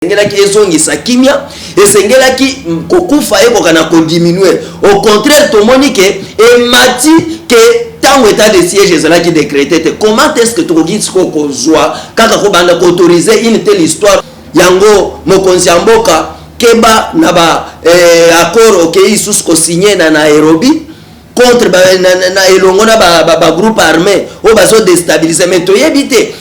esengelaki ezongisa kimia esengelaki kokufa ekoka na kodiminue au contraire tomoni ke emati ke ntango etat de siège ezalaki décrété te comment est ce que tokoki sikoyo kozwa kaka kobanda koautorize une telle histoire yango mokonzi ya mboka keba na ba eh, accord okei okay, lisusu kosigne na nairobi contre ba, na, na, na elongo na bagroupe ba, ba armé oyo bazodestabilise me toyebi te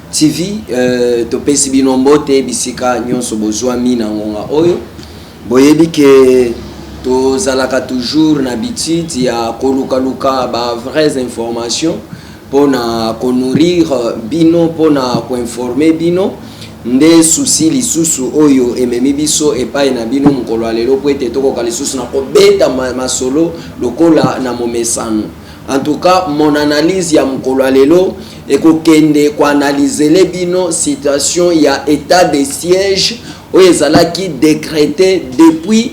TV euh, topesi bino mbote bisika nyonso bozwami na ngonga oyo boyebi ke tozalaka toujours na habitude ya kolukaluka ba vraies informations mpo na konourrir bino mpo na koinforme bino nde susi lisusu oyo ememi biso epai na bino mokolo ya lelo mpo ete tokoka lisusu na kobeta masolo lokola na momesano En tout cas mon analyse ya mokolo ya lelo ekokende ko analysele bino situation ya etat de siège oyo ezalaki decrete depuis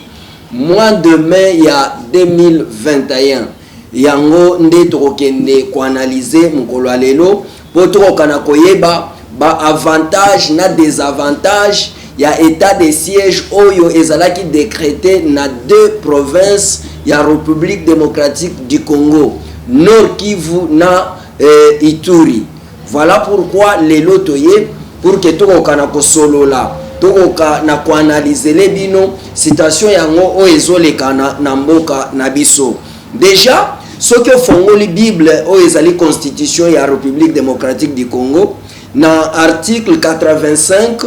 mois de mai ya 2021 yango nde tokokende ko analyse mokolo ya lelo Po tokoka na koyeba ba avantages na desavantages ya etat de siège oyo ezalaki decrete na deux provinces ya Republique democratique du Congo, Nord-Kivu na Ituri. Voilà pourquoi lelo toye pour que tokoka na kosolola, tokoka na ko analyser bino situation yango oyo ezoleka na mboka na biso. Dejà soki ofongoli bible oyo ezali constitution ya Republique democratique du Congo na article 85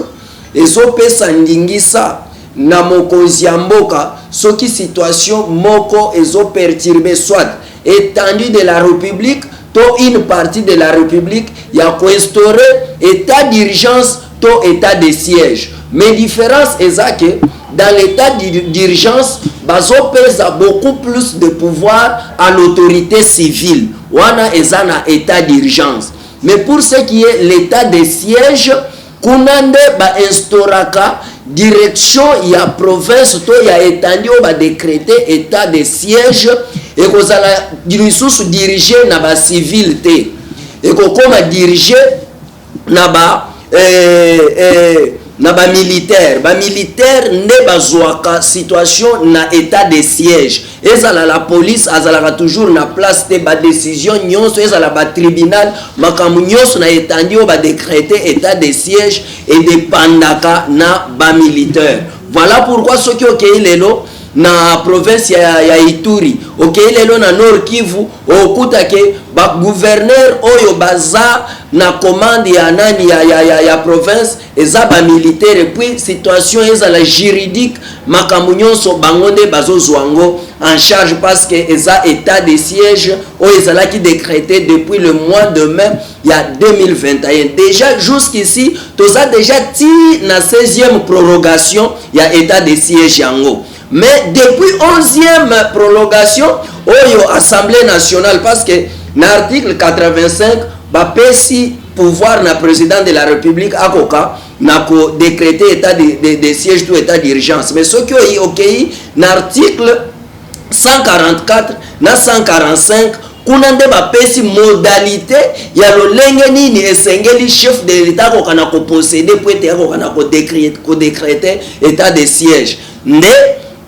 ezopesa ndingisa na mokonzi ya mboka soki situation moko ezo perturbe soit étendue de la République to une partie de la République ya koinstaurer état d'urgence to etat de siège mais difference eza que dans l'état d'urgence bazopesa beaucoup plus de pouvoir à l'autorité civile wana eza na état d'urgence mais pour ce qui est l'état de siège kuna nde bainstauraka direction ya province to ya etandi oyo badecrete état de siège ekozala lisusu dirige na bacivile te ekokoma dirige na ba eh, eh, na ba militaire ba militaire nde bazwaka situation na état de siège ezala la police azalaka toujours na place te ba décision nyonso ezala ba tribunal makambo nyonso na etandi oyo ba décrété état de siège edepandaka na ba militaire voilà pourquoi soki okei lelo na province ya, ya Ituri okei lelo na Nord Kivu okuta ke ba gouverneur oyo baza na commande ya nani ya, ya, ya, ya province eza ba militaire puis situation ezala juridique makambo nyonso bango nde bazozwa yango en charge parce que eza état de siège oyo ezalaki décrété depuis le mois de mai ya 2021 deja jusqu'ici toza deja ti na 16e prorogation ya etat de siège yango mais depuis 11e prolongation oyo assemblée nationale parce que na article 85 bapesi pouvoir na président de la république akoka na kodécréter état de, de, de siège to état d'urgence mais soki oyi okei na article 144 na 145 kuna nde bapesi modalite ya lolenge nini esengeli chef de l'etat akoka na koposede mpo ete akoka na kodekrete etat de siège nde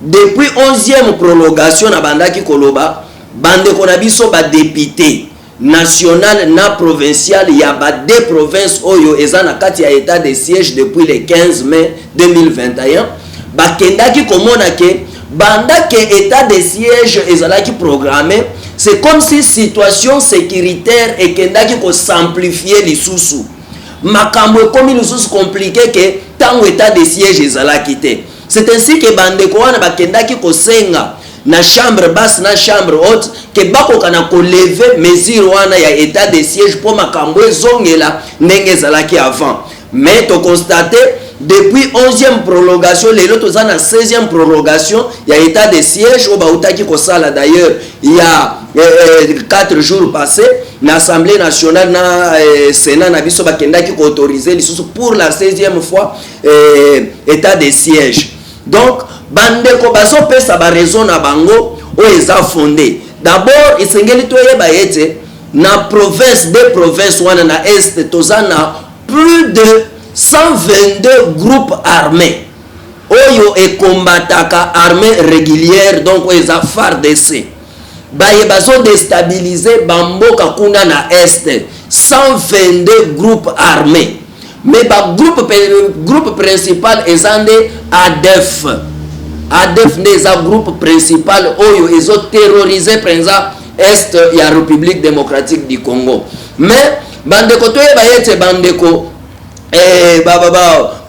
depuis 11e prolongation nabandaki koloba bandeko na biso badepute nationale na provinciale ya ba deux provinces oyo eza na kati ya etat de siège depuis le 15 mai 2021 bakendaki komona ke banda ke etat de siège ezalaki programme c'est comme si situation sécuritaire ekendaki kosamplifie lisusu makambo ekomi lisusu komplike ke ntango etat de siège ezalaki te C'est ainsi que ba ndeko wana bakendaki kosenga na chambre basse na chambre haute que bakoka na ko lever mesure wana ya etat de siège mpo makambo ezongela ndenge ezalaki avant mais to constate depuis 11e prolongation lelo toza na 16e prolongation ya état de siège oyo bautaki kosala d'ailleurs ya eh, eh, 4 jours passé na assemblée nationale na eh, sénat na biso bakendaki koautorize lisusu pour la 16e fois eh, etat de siège donc bandeko bazopesa baraison na bango oyo eza fonde d'abord esengeli toyeba ete na province de province wana na est toza na plus de 122 groupe armé oyo ekombataka armée régulière donc oyo eza fardc baye bazo destabilise ba mboka kuna na est 122 groupe armé mais ba groupe, groupe principal eza nde adef adef nde eza groupe principal oyo ezo terrorise mpenza est ya république démocratique du congo mais bandeko toyeba ye ete bandeko eh,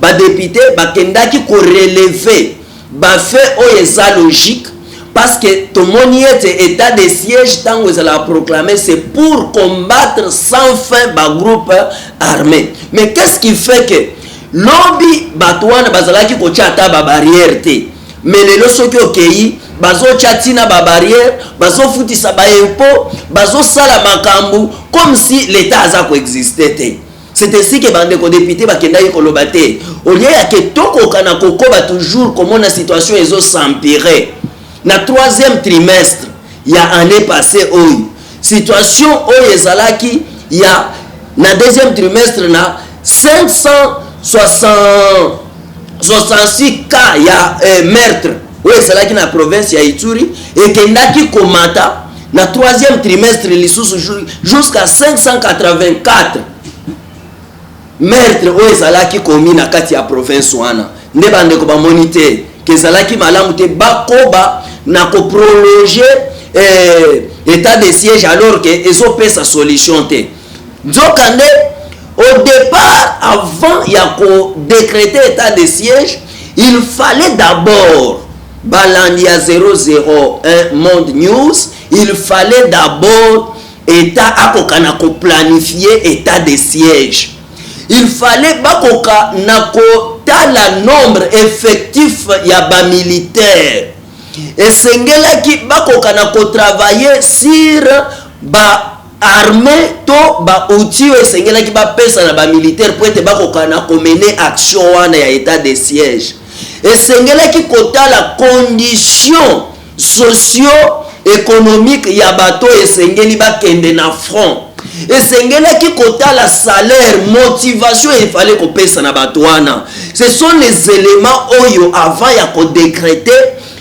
badepute ba, ba, ba bakendaki koreleve Ba faits oyo eza logique parce que tomoni ete etat de siège tango ezalaka proclamer c'est pour combattre sans fin ba groupe armee mais qu'est-ce qui fait que lobi bato wana bazalaki kotya ata ba barrière te mais lelo soki okei bazotya ntina ba barrière bazofutisa ba impo bazosala makambo comme si l'etat aza koexiste te C'est ainsi que bandeko député bakendaki koloba te olie ya ke tokoka na kokoba toujours komona situation ezo s'empirer na troisième trimestre ya année passée oyo situation oyo ezalaki ya na deuxième trimestre na 566 cas ya eh, meurtre oyo ezalaki na province ya Ituri ekendaki komata na troisième trimestre lisusu jusqu'à 584 meurtre oyo ezalaki komi na kati ya province wana nde bandeko bamoni te ke ezalaki malamu te bakoba na koprolonge eh, état de siège alors ke ezopesa solution te nzokande au départ avant ya kodécrete état de siège Il fallait d'abord balandi ya 001 Monde News, il fallait d'abord État akoka na ko planifier état de siège. Il fallait bakoka na kotala nombre effectif ya ba militaires. Esengelaki bakoka na ko travailler sur ba armee to ba outils oyo esengelaki bapesa na ba militaires mpo ete bakoka na ko mener action wana ya etat de siège. Esengelaki kotala conditions socio-economiques ya bato oyo esengeli bakende na front. Esengelaki kotala salaire, motivation il fallait kopesa na bato wana. Ce sont les elements oyo avant ya ko decreter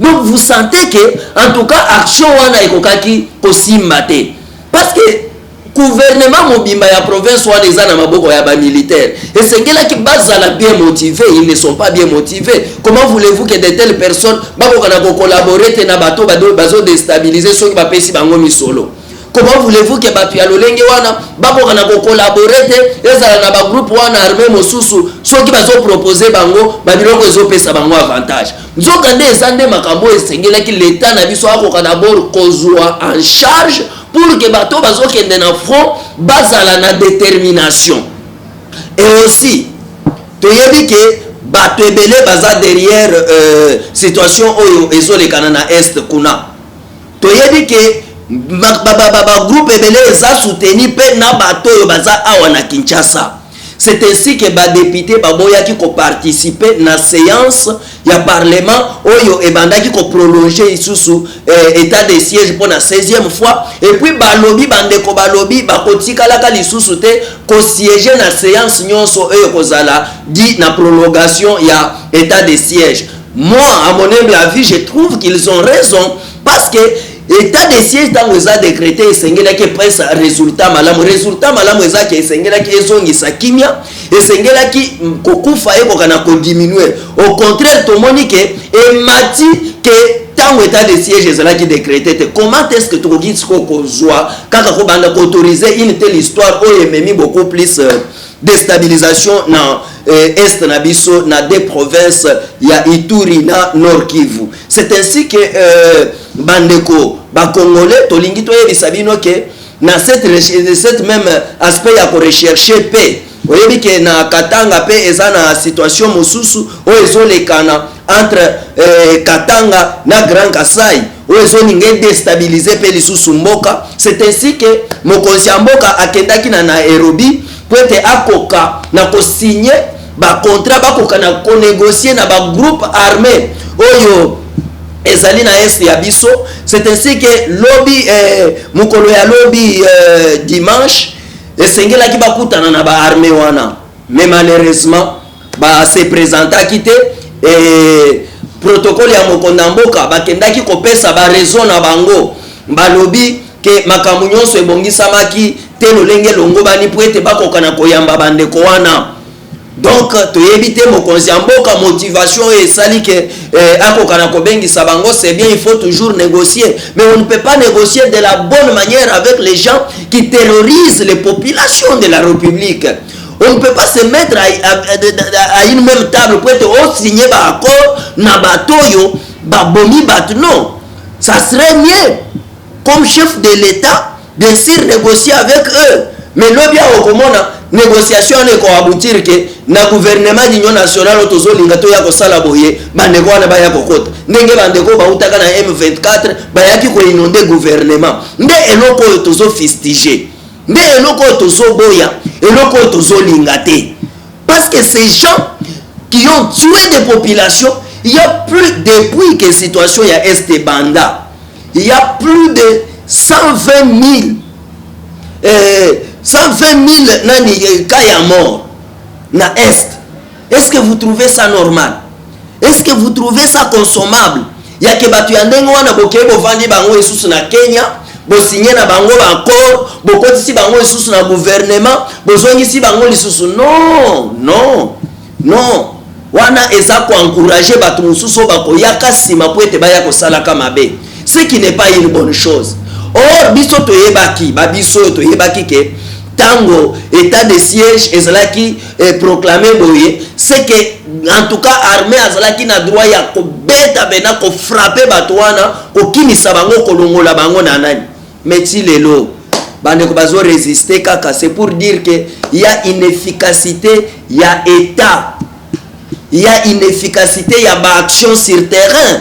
Donc vous sentez que en tout cas action wana ekokaki kosimba te parce que gouvernement mobimba ya province wana eza na maboko ya bamilitaire esengelaki bazala bien motive ils ne sont pas bien motive comment voulez-vous que de telle personne bakoka na kocollabore te na bato bazodestabilize soki bapesi bango misolo comment voulez-vous que bato ya lolenge wana bakoka na kocollabore te ezala na bagroupe wana arme mosusu soki bazopropose bango babiloko ezopesa bango avantage Nzokande, eza nde makambo oyo esengelaki l'Etat na biso akoka d'abord kozua en charge pour que bato oyo bazokende na front bazala na determination. Et aussi, toyebi ke bato ebele baza derrière euh, situation oyo ezolekana na Est kuna. Toyebi ke ba groupe ebele eza soutenu pe na bato oyo baza awa na Kinshasa. C'est ainsi que ba deputes baboyaki ko participer na seance ya parlement oyo ebandaki ko prolonger lisusu eh, etat de siège mpo na 16e fois et puis balobi bandeko balobi bakotikalaka lisusu te ko siège na seance nyonso oyo ekozala di na prolongation ya etat de siège moi à mon humble avis je trouve qu'ils ont raison parce que Etat de siège tango eza decrete esengelaki epesa resultat malamu. Resultat malamu eza ke esengelaki ezongisa kimia, esengelaki kokufa ekoka na ko diminuer. Au contraire tomoni ke emati ke tango etat de siège ezalaki decrete te. Comment est-ce que tokoki sikoyo kozwa kaka kobanda ko autoriser une telle histoire oyo ememi beaucoup plus euh, destabilisation na eh, est na biso na deux provinces ya Ituri na Nord Kivu. c'est ainsi que euh, bandeko bakongolais tolingi toyebisa bino ke na cette, cette même aspect ya korecherche mpe oyebi ke na katanga mpe eza na situation mosusu oyo ezolekana entre euh, katanga na grand kasai oyo ezolinga edestabilize mpe lisusu mboka c'est ainsi ke mokonzi ya mboka akendaki na nairobi mpo ete akoka na kosigne ba contrat bakoka na ko negocier na ba groupe armé oyo ezali na est ya biso c'est ainsi que lobi eh, mokolo ya lobi eh, dimanche esengelaki bakutana na ba armé wana mais malheureusement ba se présentaki te eh, protocole ya mokonda mboka bakendaki kopesa ba raison na bango balobi ke makambo nyonso ebongisamaki te lolenge elongobani mpo ete bakoka na koyamba bandeko wana donc toyebi te mokonzi ya mboka motivation oyo esali ke eh, akoka na kobengisa bango c'est bien il faut toujours négocier mais on ne peut pas négocier de la bonne manière avec les gens qui terrorisent les populations de la république on ne peut pas se mettre à, à, à, à une même table po ete osigne oh, baaccord na bato oyo babomi bato non ça serait mieux comme chef de l'etat bien sur negocier avec eux mais lobi awa okomona négociation wana ekoaboutir ke na gouvernement d'union nationale oyo tozolinga toya kosala boye bandeko wana baya kokota ndenge bandeko bautaka na m24 bayaki koinonde gouvernement nde eloko oyo tozofistige nde eloko oyo tozoboya eloko oyo tozolinga te parce que ces gens qui ont tué des populations il y a plus depuis que situation ya est banda il ya plus de 120000 euh, 120000 nani eh, cas ya mort na est est ce que vous trouvez ça normal est ce que vous trouvez ça consommable yake bato ya ndenge wana bokei bovandi bango esusu na kenya bosinye na bango baaccord bokotisi bango lisusu na gouvernement bozongisi bango lisusu non non Non, wana eza ko encourager batu mususu oyo bakoyaka sima po ete baya kosalaka mabe, ce qui n'est pas une bonne chose. Or biso toyebaki, ba biso oyo toyebaki ke tango etat de siège ezalaki eh, proclamer boye, c'est que en tout cas armée azalaki na droit ya kobeta bena kofrape bato wana kokimisa bango kolongola bango na nani Mais ti lelo bandeko bazo resister kaka c'est pour dire que il y a une efficacité il y a état il y a une efficacité il y a ba action sur terrain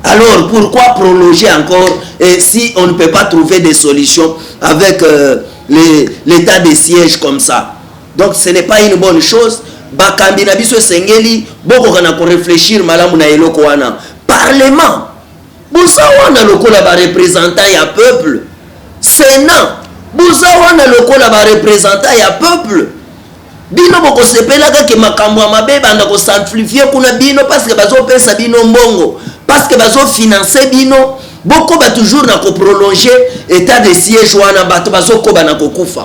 alors pourquoi prolonger encore et si on ne peut pas trouver des solutions avec euh, l'état de siège comme ça donc ce n'est pas une bonne chose bakambi na biso esengeli bokoka na koreflechir malamu na eloko wana parlement Boza wana lokola ba representant ya peuple senat boza wana lokola ba representant ya peuple bino bokosepelaka ke makambo ya mabe ebanda kosamplifie kuna bino parceke bazopesa bino mbongo parceke bazofinanse bino bokoba toujours na koprolonge etat de siège wana bato bazokoba na kokufa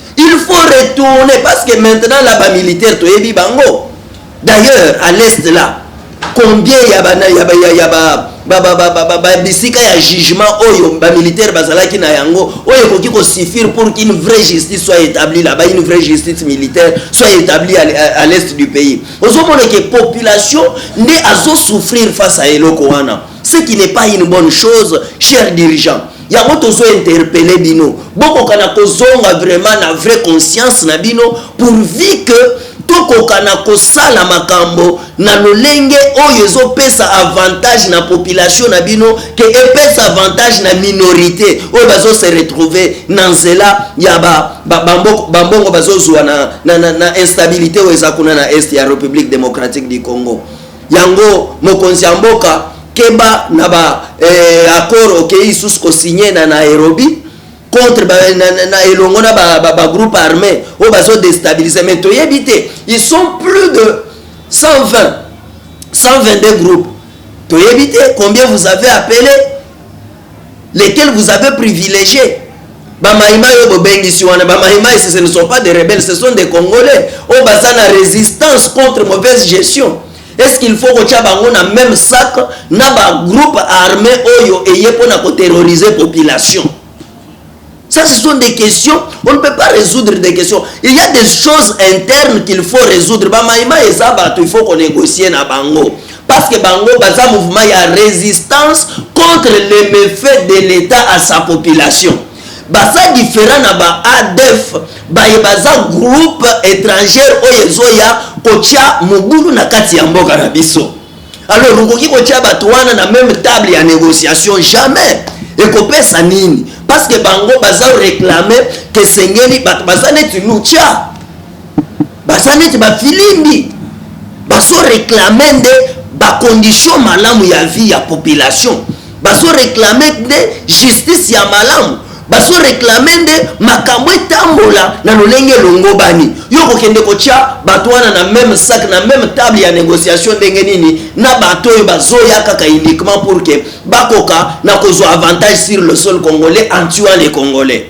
Il faut retourner parce que maintenant là ba militaires toyebi bango. D'ailleurs à l'est là combien ya ba ya ba ya ba ba ba ba ba ba ba bisika ya jugement oyo ba militaires bazalaki na yango oyo ekoki ko suffire pour qu'une vraie justice soit établie là-bas une vraie justice militaire soit établie à, à, à l'est du pays ozomona ke population nde azo souffrir face à eloko wana ce qui n'est pas une bonne chose cher dirigeant yango tozo interpele bino bokoka na kozonga vraiment na vrai conscience na bino pourvu que tokoka na kosala makambo na lolenge oyo ezopesa avantage na population na bino ke epesa avantage na minorité oyo bazo se retrouver na nzela ya bambongo ba, ba, ba bazozwa na, na, na, na instabilité oyo eza kuna na est ya république démocratique du congo Yango mokonzi ya mboka keba na ba eh, accord okeyi lisusu kosigne na Nairobi contre ba, na, na, na elongo na ba, ba, ba groupe armé oyo bazo destabilise mais toyebi te ils sont plus de 120 122 groupes toyebi te combien vous avez appelé lequel vous avez privilegie ba maimai oyo bobengisi wana ba maimai ce ne sont pas des rebelles ce sont des congolais oyo baza na résistance contre mauvaise gestion est ce qu'il faut kotya bango na même sac na bagroupe armé oyo eye mpo na koterroriser population Ça, ce sont des questions. On ne peut pas résoudre des questions. Il y a des choses internes qu'il faut résoudre. Bamaïma et Zabato, il faut qu'on négocie na bango. Parce que bango, baza mouvement, il y a résistance contre les méfaits de l'État à sa population. Baza différent na ba ADF, baye baza groupe étranger oyo ezoya kotia mobulu na kati ya mboka na biso. alors okoki kotia bato wana na meme table ya négociation jamais ekopesa nini parce que bango baza réclame kesengeli bato baza neti lucha baza neti bafilimbi baso réclame nde bacondition malamu ya vie ya population bazo reclame nde justice ya malamu bazo reclame nde makambo etambola na lolenge elongobani yo kokende kotya bato wana na meme sac na meme table ya négociation ndenge nini na bato oyo bazoya kaka uniquement pour ke bakoka na kozwa avantage sur le sol congolais en tuant les congolais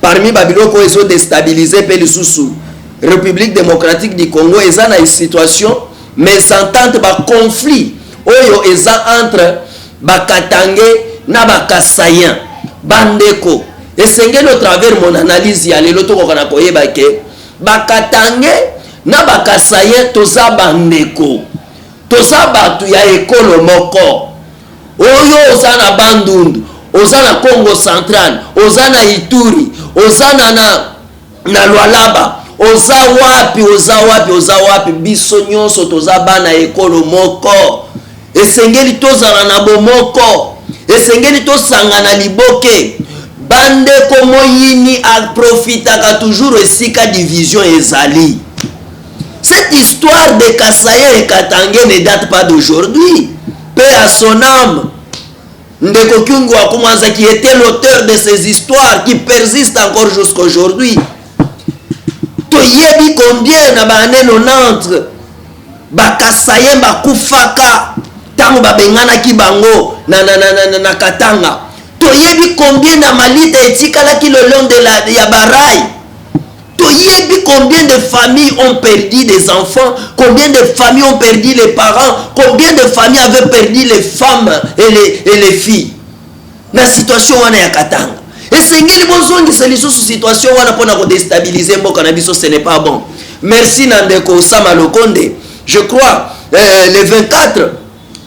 Parmi ba biloko oyo ezo destabiliser mpe lisusu Republique democratique du Congo eza na situation mésentente ba conflit oyo eza entre ba Katange na ba Kasaïen bandeko esengeli au travers mon analyse ya lelo tokoka na koyeba ke ba Katange na ba Kasaïen toza bandeko Toza batu ya ekolo moko. Oyo oza na Bandundu, oza na Kongo central, oza na Ituri, oza na na na Lualaba, oza wapi, oza wapi, oza wapi, biso nyonso toza bana ya ekolo moko. Esengeli tozala na bomoko, esengeli tosangana liboke. Bandeko moyini aprofitaka toujours esika division ezali. Cette histoire de Kasaien et Katangais ne date pas d'aujourd'hui. Paix à son âme. Ndeko Kyungu Akumanza qui était l'auteur de ces histoires qui persistent encore jusqu'à aujourd'hui. Toyebi combien na ba année 90 ba Kasaien ba kufaka tango ba benganaki bango na na na na, na, na Katanga. Toyebi combien na malita etikalaki le long de la ya barai Toyebi combien de familles ont perdu des enfants, combien de familles ont perdu les parents, combien de familles avaient perdu les femmes et les, et les filles. Na situation wana ya Katanga. Esengeli bozongisa lisusu situation wana pona ko déstabiliser mboka na biso, ce n'est pas bon. Merci na ndeko Osama Lokonde. Je crois euh, le 24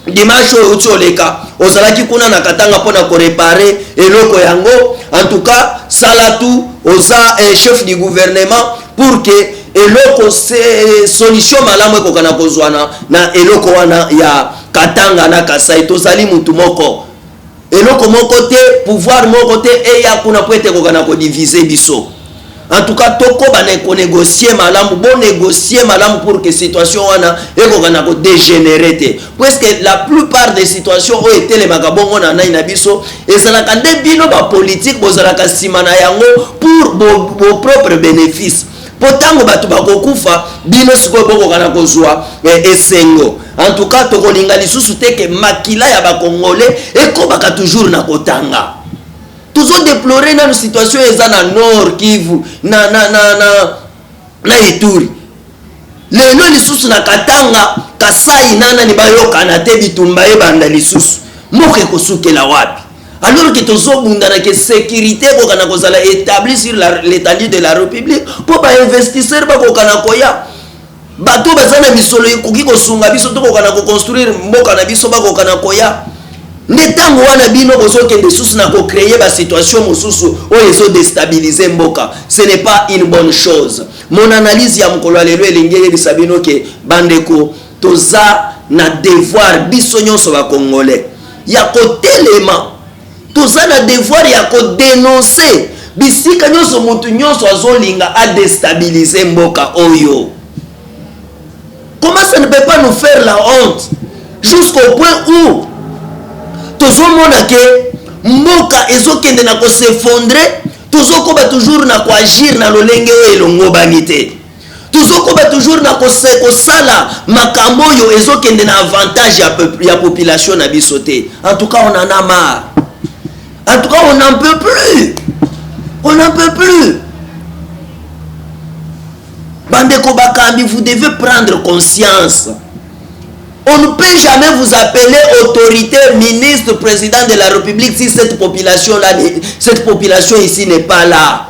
dimanche oyo euti oleka ozalaki kuna na katanga mpo na korepare eloko yango en tout cas sala tu oza eh, chef du gouvernement pour que eloko se solution malamu ekokana kozwana na eloko wana ya katanga na kasai tozali mutu moko Eloko moko te, pouvoir moko te eya kuna mpo ete ekokana ko diviser biso. En tout cas, tokoba na ko negocier malamu, bo negocier malamu pour que situation wana ekokana ko degenerer te. Puisque la plupart des situations oyo etelemaka bongo na nai na biso, ezalaka nde bino ba politique bozalaka nsima na yango pour vos propres benefices. mpo ntango bato bakokufa bino sikoyo bokoka na kozwa eh, esengo antuka tokolinga lisusu te ke makila ya bakongole ekobaka toujours na kotanga tozodeplore nano situation eza na nord kivu na, na, na, na, na ituri lelo lisusu na katanga kasai nanani bayokana te bitumba ebanda lisusu mboka ekosukela wapi alors que tozobunda na ke sécurité ekoka na kozala établi sur l'étendue de la république mpo bainvestisseur bakoka na koya bato baza na misolo ekoki kosunga biso tokoka na koconstruire mboka na biso bakoka na koya nde ntango wana bino bozokende susu na kocreye basituation mosusu oyo ezodestabilize mboka ce n'est pas une bonne chose mon analyse ya mokolo ya lelo elingi eyebisa bino ke bandeko Toza na devoir biso nionso ba congolais ya kotelema, toza na devoir ya ko denoncer bisika nionso mutu nionso azolinga a destabiliser mboka oyo. Comment ça ne peut pas nous faire la honte jusqu'au point où tozomona ke mboka ezokende na kosefondre tozokoba toujours na koagir na lolenge oyo elongobani te tozokoba toujours na kosala makambo oyo ezokende na avantage ya, ya population na biso te en tout cas on en a marre en tout cas on n'en peut plus on n'en peut plus bandeko bakambi vous devez prendre conscience on ne peut jamais vous appeler autorité ministre président de la république si cette population là cette population ici n'est pas là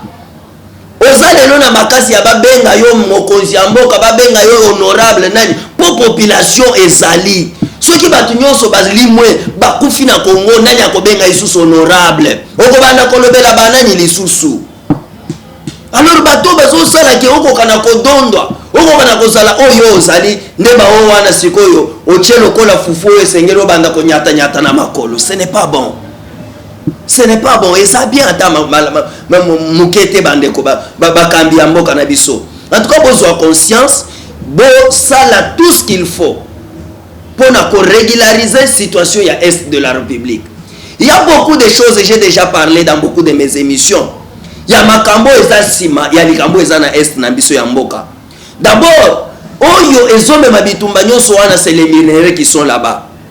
Oza lelo na makasi ya ba benga yo mokonzi ya mboka ba benga yo honorable nani po population ezali soki bato nyonso balimwe bakufi na Congo nani akobenga lisusu honorable okobanda kolobela banani lisusu alors bato bazosala ke okoka na kodondwa okoka na kozala oyo ozali nde baoyo wana sikoyo otie lokola fufu oyo esengeli obanda konyatanyata na makolo ce n'est pas bon Ce n'est pas bon, eza bien ata muke te bandeko bakambi ya mboka na biso. En tout cas bozwa conscience, bosala tout ce qu'il faut pour na ko régulariser situation ya est de la République. Il y a beaucoup de choses, j'ai déjà parlé dans beaucoup de mes émissions. Ya makambo eza sima, ya likambo eza na est na biso ya mboka. D'abord, oyo ezomema bitumba nyonso wana c'est les minerais qui sont là-bas.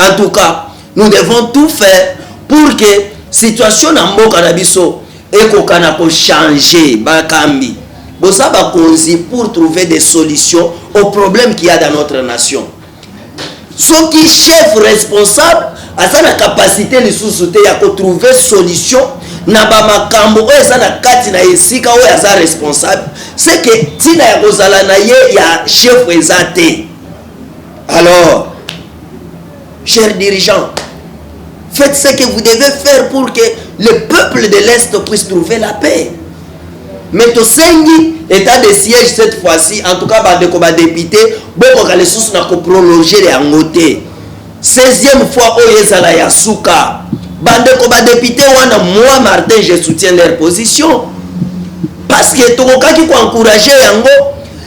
En tout cas, nous devons tout faire pour que situation na mboka na biso ekokana ko changer bakambi. Boza bakonzi pour trouver des solutions aux problèmes qu'il y a dans notre nation. soki chef responsable aza na kapasite lisusu te ya kotrouve solution na bamakambo oyo eza na kati na esika oyo aza responsable seke ntina ya kozala na ye ya chef eza te alors Chers dirigeants, faites ce que vous devez faire pour que le peuple de l'Est puisse trouver la paix. Mais tosengi état de siège cette fois-ci, en tout cas bandeko ba député, bokoka lisusu na ko prolonger yango te. 16e fois oyo ezala ya suka. Bandeko ba député wana moi Martin je soutiens leur position parce que tokokaki ko encourager yango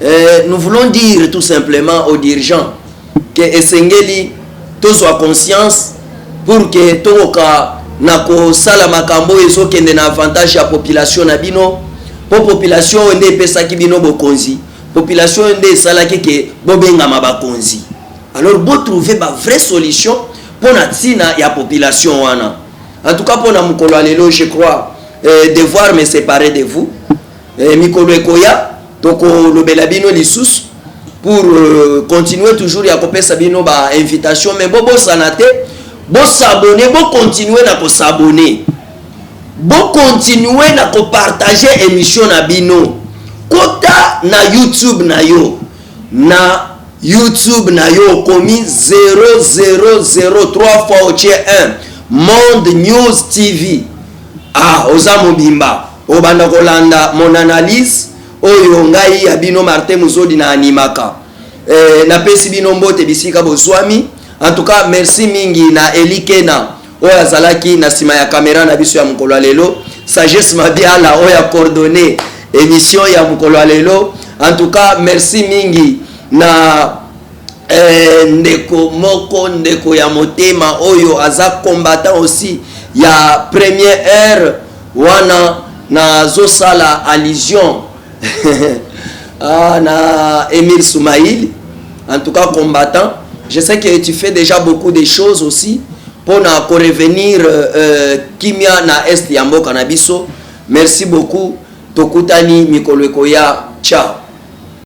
Eh, nous voulons dire tout simplement aux dirigeants que esengeli tozwa conscience pour que tokoka na kosala makambo oyo ezokende na avantage ya population na bino mpo population oyo nde epesaki bino bokonzi population oyo nde esalaki ke bobengama bakonzi alors botrouve bavrai solution mpo na ntina ya population wana en tout cas mpo na mokolo ya lelo je crois eh, devoir me séparer de vous Eh, mikolo ekoya tokolobela bino lisusu pour euh, continuer toujours ya kopesa bino ba invitation mais bobosana te bosabone bokontinue na kosabone bokontinue na kopartage émission na bino kota na youtube na yo na youtube na yo okomi 0003 fois otie 1 monde news tv Ah oza mobimba obanda kolanda mon analyse oyo ngai ya bino Martin Muzodi na animaka eh, napesi bino mbote bisika bozwami en tout cas merci mingi na Elikena oyo azalaki na nsima ya kamera na biso ya mokolo ya lelo sagesse mabiala oyo acordonne émission ya mokolo ya lelo en tout cas merci mingi na Eeh ndeko moko ndeko ya motema oyo aza combattant aussi ya premier heure wana nazo sala allusion ah na Emile Soumail en tout cas combattant je sais que tu fais déjà beaucoup de choses aussi pona ko revenir euh, kimia na est ya mboka na biso merci beaucoup tokutani mikolo ekoya ciao